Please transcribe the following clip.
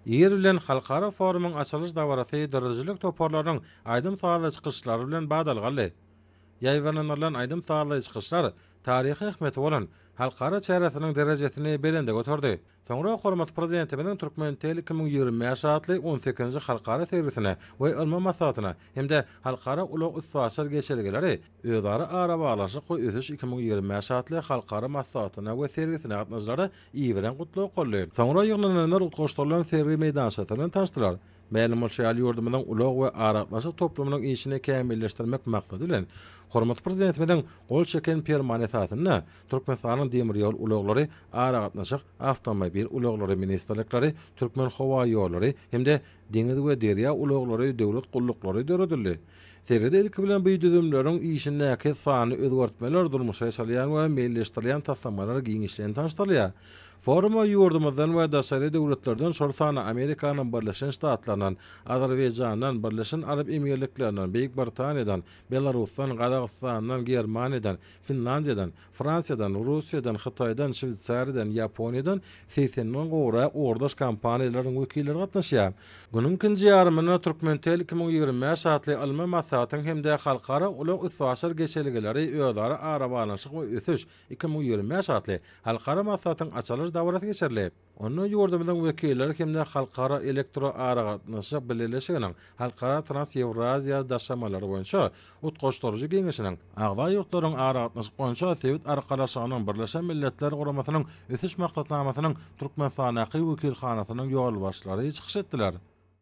Ýer bilen halkara forumyň açylyş dabarasy döredijilik toparlarynyň aýdym-sazly çykyşlary bilen badalgaldy. Ýaýbaňlandyrylan aýdym-sazly çykyşlar taryhy ähmiýeti bolan halkara çäresiniň derejesini belende göterdi. Soňra hormatly Prezidentimiziň Turkmentel iki müň ýigrimi bäş atly on sekizinji halkara sergisine we ylmy maslahatyna hem-de Halkara ulag-üstaşyr geçelgeleri, özara arabaglanyşyk we ösüş iki müň ýigrimi bäş atly halkara maslahatyna we sergisine gatnaşyjylara ýiberen gutlag golly. Soňra ýygnananlar utgaşdyrylan sergi meýdançasy bilen tanyşdylar. Mälim bolşy ýaly, ýurdumyzyň ulag we aragatnaşyk toplumynyň işini kämilleşdirmek maksady bilen, hormatly Prezidentimiziň gol çeken Permany esasynda, Türkmenistanyň Demir ýol ulaglary, Aragatnaşyk, Awtomobil ulaglary ministrlikleri, Türkmenhowaýollary hem-de Deňiz we derýa ulaglary döwlet gulluklary döredildi. Sered ilki bilen bu düzümleriň işindäki sanly özgertmeler durmuşa geçirilýän we meýilleşdirilýän taslamalar giňişleýin tanyşdyrylýar. Foruma ýurdumyzdan we daşary döwletlerden şol sanda Amerikanyň Birleşen Ştatlaryndan, Azerbaýjandan, Birleşen Arap Emirliklerinden, Beýik Britaniýadan, Belarusdan, Gazagystandan, Germaniýadan, Finlandiýadan, Fransiýadan, Russiýadan, Hytaýdan, Şweýsariýadan, Ýaponiýadan segsen müňden gowrak ugurdaş kompaniýalaryň wekilleri gatnaşýar. Günüň ikinji ýarymynda Türkmentel iki müň ýigrimi bäş atly ylmy maslahatyň hem-de Halkara ulag üstaşyr geçelgeleri, özara arabaglanyşyk we ösüş iki müň ýigrimi bäş atly halkara maslahatyň açylyş dabarasy geçirilip, Onda ýurdumyzyň wekilleri hem-de Halkara elektroaragatnaşyk bileleşiginiň Halkara Trans-Ýewraziýa daşamalary boýunça utgaşdyryjy geňeşiniň, agza ýurtlaryň Aragatnaşyk boýunça Sebit Arkalaşygynyň Birleşen Milletler Guramasynyň Ösüş maksatnamasynyň Türkmenistandaky wekilhanasynyň ýolbaşçylary çykyş etdiler.